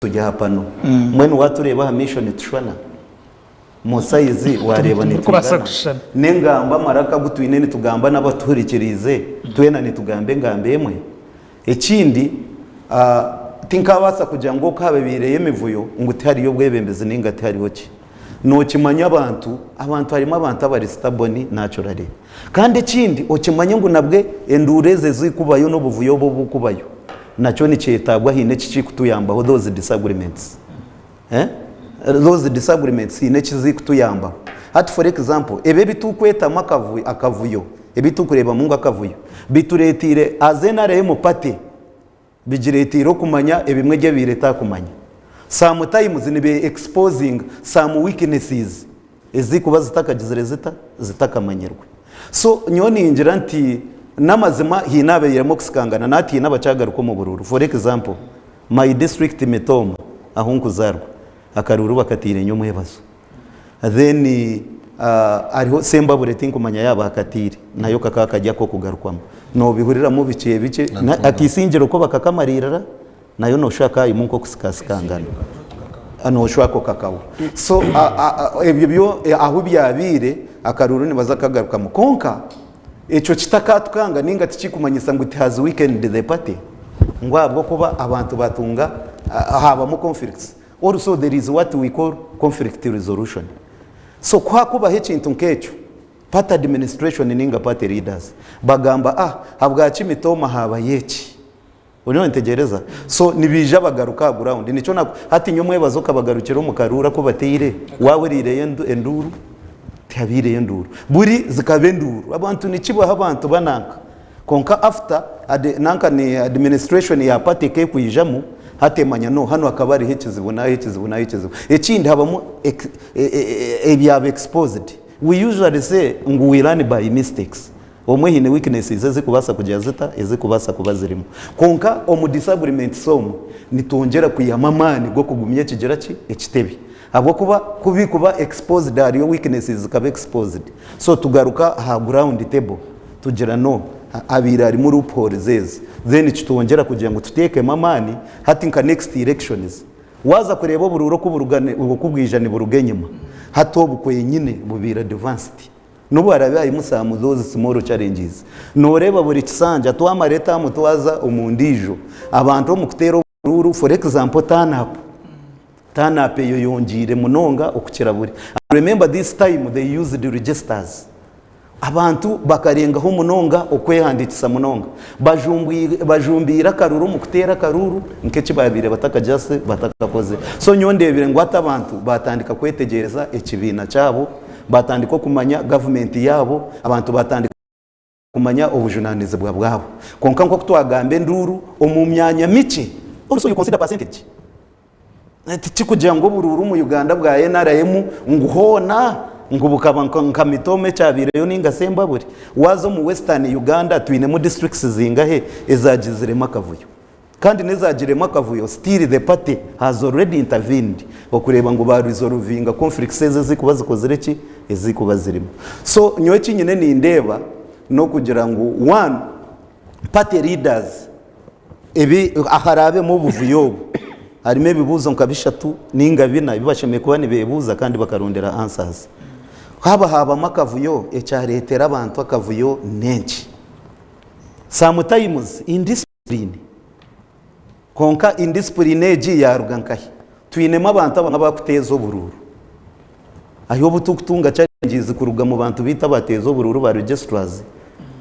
Turi aha pano. Mbwenu waatureeba aha maisho nitushwana? Mu sayizi waareeba nitwigana? N'engambo, amaraka agu twine nitugamba n'abatuhurikiriize twena nitugamba engambo emwe? Ekindi, tinkaabaasa kugira ngu okaabaibaireyo emivuyo ngu tihariyo bwebembezi nainga tihariho ki. Nokimanya abantu abantu harimu abantu abari stubborn naturally kandi ekindi okimanye ngu nabwe enduura ezo ezikubayo nobuvuyo obu obukubayo nakyo nikyetagwa haine eki kikutuyambaho those disagreements those disagreements haine eki zikutuyambaho hati for example ebi ebitukwetamu akavuyo akavuyo ebitukureebamu ngu akavuyo bitureteire as nrm party Bigireeteire okumanya ebimwe ebi ebaire etaakumanya. Some times nibe exposing some weaknesses ezikuba zitakagizire zita? Zitakamanyirwe. So nyowe ningira nti n'amazima haine abairemu okusikangana na hati haine abakyagaruka omu buruuru. For example, my district Mitooma ahu nkuzaarwa akaruuru bakatairenyo omwebazo. then hariho sembabure tinkumanya yaaba akataire nayo kakaba kari akokugarukwamu nobihuriramu bikye bikye akaisingye oku bakakamariirira nayo noshusha hakaba harimu nkokusikasikangana noshusha ako kakawa so ebyo byo ahu byabaire akaruuru nibaza kukagarukamu kwonka ekyo kitakatukanga ninga tikikumanyisa ngu it has weakened the party ngu ahabwokuba abantu batunga haabamu conflicts Or so there is what we call conflict resolution so ku hakubaho ekintu nk'ekyo party administration ninga party leaders bagamba ah habwaki mitooma haabayo eki oriyo nitegyereza so nibaija bagaruka aha ground nikyo naku hati nyowe mwebaza okabagarukira omu karuura ku bataire waahuriireyo endu enduuru tihabaireyo enduuru buri zikaba enduuru abantu nikibaho abantu bananka Kwonka after adi nanka ni administration ya party ekekwijamu hati emanya no hanu hakaba hariho ekizibu naha ekizibu naha ekizibu. Ekindi habamu ex ebyaba exposed. We usually say ngu we learn by mistakes. Omwe haine weaknesses ezikubasa kugira zita ezikubasa kuba zirimu. Kwonka omu disagreements omwo nitwongyera kwihamu amaani gokugumya ekigira ki ekitebe. Ahabw'okuba ku bikuba exposed hariyo weaknesses zikaba exposed so tugaruka aha ground table tugira no habaire harimu loopholes ezi then kitwongyera kugira ngu tuteekemu amaani hati nka next elections waaza kureeba oburuura oku buruga oku bwija niburuga enyima hati obu kwenyine bubaire advanced nobu haraabe harimu some those small challenges nooreeba buri kisanja twamara etaamu twaza omu ndiijo abantu omu kuteera Ekinuuru, for example, turn up, turn up eyoyongiire munonga okukira buri. I remember this time they used registers. Abantu bakarengaho munonga okwehandikisa munonga. Bajumbuire, bajumbiire akaruru omu kuteera akaruru nka eki babaire bataka just batakakoze. So nyowe ndebire ngu hati abantu batandika kwetegyereza ekibiina kyabo, batandika okumanya government yaabo, abantu batandika. kumanya obujunaanizibwa bwabo. Kwonka nk'oku twagamba enduuru omu myanya mikye, also you consider percentage. Tikikugira ngu oburuuru omu Uganda bwa nrm ngu hoona ngu bukaba nka Mitooma ekyabaireyo nainga shi Embabure. Waaza omu Western Uganda twinemu districts zingahe ezaagiziremu akavuyo? Kandi nezagiremu akavuyo still the party has already intervened okureeba ngu ba resolvinga conflicts ezo ezikuba zikozire ki? Ezikuba zirimu. So nyowe eki nyine nindeeba nokugira ngu one party leaders ebi aharabemu obuvuyo obu harimu ebibuzo nka bishatu ninga bina ebi bashemereire kuba nibebuza kandi bakarondera answers. Haba habamu akavuyo ekyaretera abantu akavuyo nenki? Sometimes in this. Disipuriini. Kwonka indisipuriini egi yaaruga nkahi? Twinemu abantu abamwe abakuteeza oburuuru. Ahi obu turikutunga chalengizi kuruga mu bantu baitu abateeza oburuuru ba Registrars,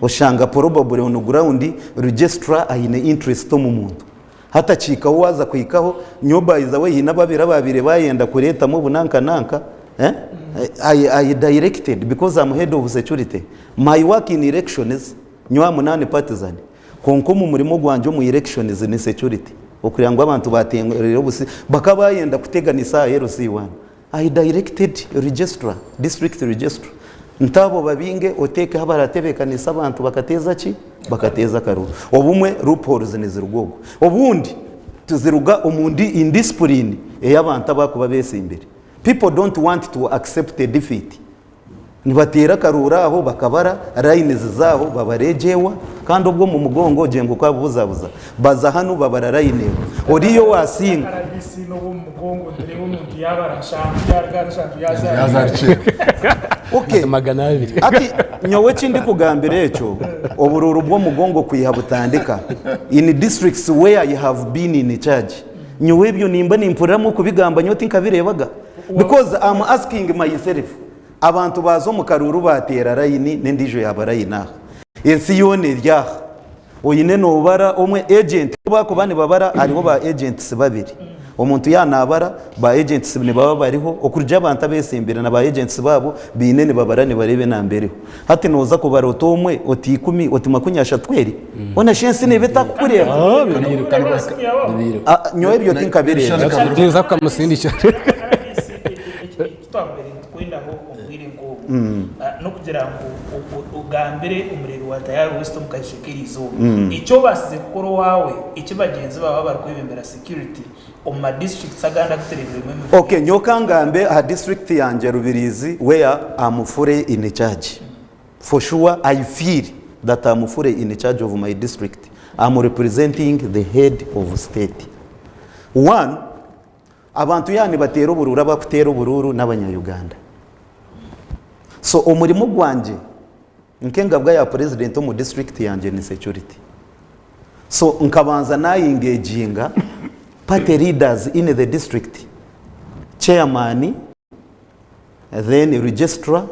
oshanga porobabure onu gurawundi Registrar aine inturesiti omu muntu. Hatakiikaho waaza kuhikaho, nyowe by the way haine ababiri abaabaire baayenda kureetamu obu nanka nanka, I I directed because am head of security, my work in elections, nyowe am non-partisan, Kwonka omu murimo gwangye omu Elections ni Security, okureeba ngu abantu bateereire obusi bakaba bayenda kuteganisa aha LC one, I directed Registrar, District Registrar nti abo babinge oteekeho abaratebeekanisa abantu bakateeza ki? Bakateeza akaruru. Obumwe loopholes niziruga ogwo. Obundi tiziruga omu indiscipline ei abantu abarikuba beetsimbire. People don't want to accept a defeat. Nibateera akarooro aho bakabara, rayini ziza aho babara egyo ewa, kandi obwo omu mugongo ogye ngu okabubuzabuza. Baza hanu babara rayini ewa. Oriya owaasinga. Okay. Hati nyowe eki ndikugambira ekyo oburooro bw'omugongo kwiha butandika in districts where you have been in charge. Nyowe ebyo nimba nimpuriramu okubigamba nyowe tinkabireebaga because am asking myself abantu baaza omu karuuru baateera layini n'endiijo yaaba layini aha. Ensi yoona eri aha. Oine noobara omwe agent ku baakuba nibabara hariho ba agents babiri. Omuntu yaaba naabara ba agents nibaba bariho okurugi abantu abeesimbire na ba agents baabo baine nibabara nibareeba enamba eriho. Hati noza kubara ota omwe, ota ikumi, oti makumi ashatu eri? Bona shi ensi neba etakukureba? Nyowe ebyo tinkabireeba. Ninza kukamusindikira. Ekitwabaire nitukwendaho omu bwire nk'obu, n'okugira ngu ogambire omureri wa Tayari West omu kaisho k'erizooba eki obaasize kukora owaawe, eki bagyenzi baawe abarikwebembera security, omu ma districts agandi agu tureebiremu emifurire. Ok, nyowe ka ngambe aha district yangye Rubirizi where a mufure in charge. For sure I feel that a mufure in charge of my district am representing the head of state. One, abantu yaaba nibateera oburuuru abakuteera oburuuru n'abanya Uganda. So omurimo gwangye. Nk'engabwa ya purezidenti omu disiturikiti yangye ni security so nkabanza nayingeginga party leaders in the district, chairman, then registrar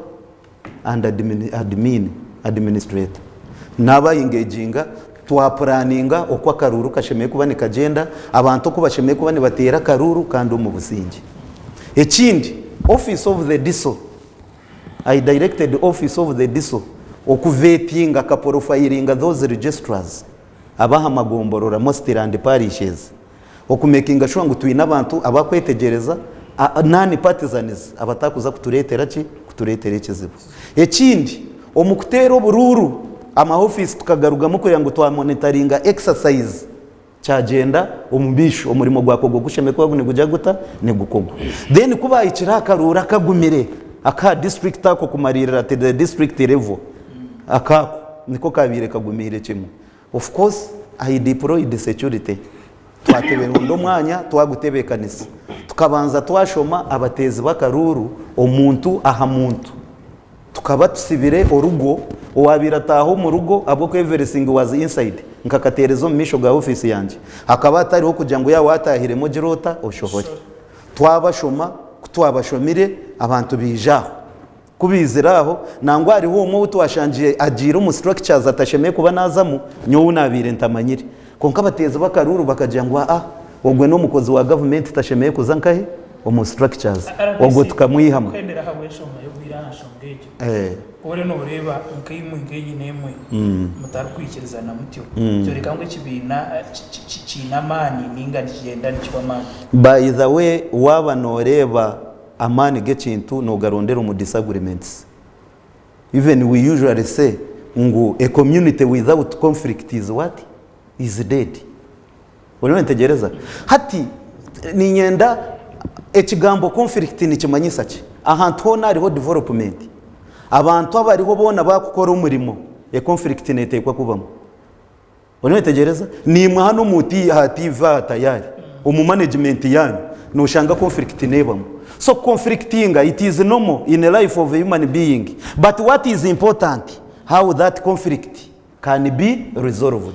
and admin, administrator nabaingeginga twapuraninga oku akaruuru kashemereire kuba nikagyenda, abantu oku bashemereire kuba nibateera akaruuru kandi omu buzingye. Ekindi office of the diso, I directed office of the DISO okuveepinga kaporofayiringa those registrars ab'aha magomborora, mostly land parishes, okumekinga shuwa ngu twine abantu abarikwetegyereza, non-partisans, abatarikuza kutureetera ki? Kutureetera ekizibu. Ekindi, omu kuteera oburuuru, amaofiisi tukagarugamu kureba ngu twamonitaringa exercise. Kyagyenda omumaisho, omurimo gwakorwa ogushemekwa ogu nigugya guta? Nigukorwa. Then ku baahikire aha karuuru akagumire akaha district ako kumariirira at the district level, aka ako niko kaabaire kagumiire kimwe. Of course I deployed security, twateberonda omwanya twagutebeekanisa, tukabanza twashoma abateezi b'akaruuru omuntu aha muntu. Tukaba tusibire orugo, owaabaire ataaha omu rugo ahabw'oku everything was inside, nkakateereza omu maisho ga ofiisi yangye. Hakaba hatariho kugira ngu yaaba waataahiremu ogire ota, oshohore. Twabashoma, ku twabashomire, abantu baija aho. Ku baizire aho, nangwa hariho omwe ou twashangire agiire omu structures atashemereire kuba naazamu, nyowe ou naabaire ntamanyire. Kwonka abateezibwe akaruuru bakagira ngu aa ogwe n'omukozi wa gavumenti tashemeire kuza nkahe omu structures ogwo tukamwihamu. By the way waaba nooreeba amaani g'ekintu noogarondera omu disagreements. Even we usually say ngu a community without conflict is what? Is dead. Oriyo nitegyereza? Hati niinyenda ekigambo conflict nikimanyisa ki? Ahantu hoona hariho development. Abantu abariho boona baakukora omurimo, a conflict neeteekwa kubamu. Oriyo oyetegyereza? Naimwe hanu omu ha TV aha tayaari, omu management yaanyu, noshanga conflict neebamu. So ku conflictinga, it is normal in life of a human being. But what is important, how that conflict can be resolved.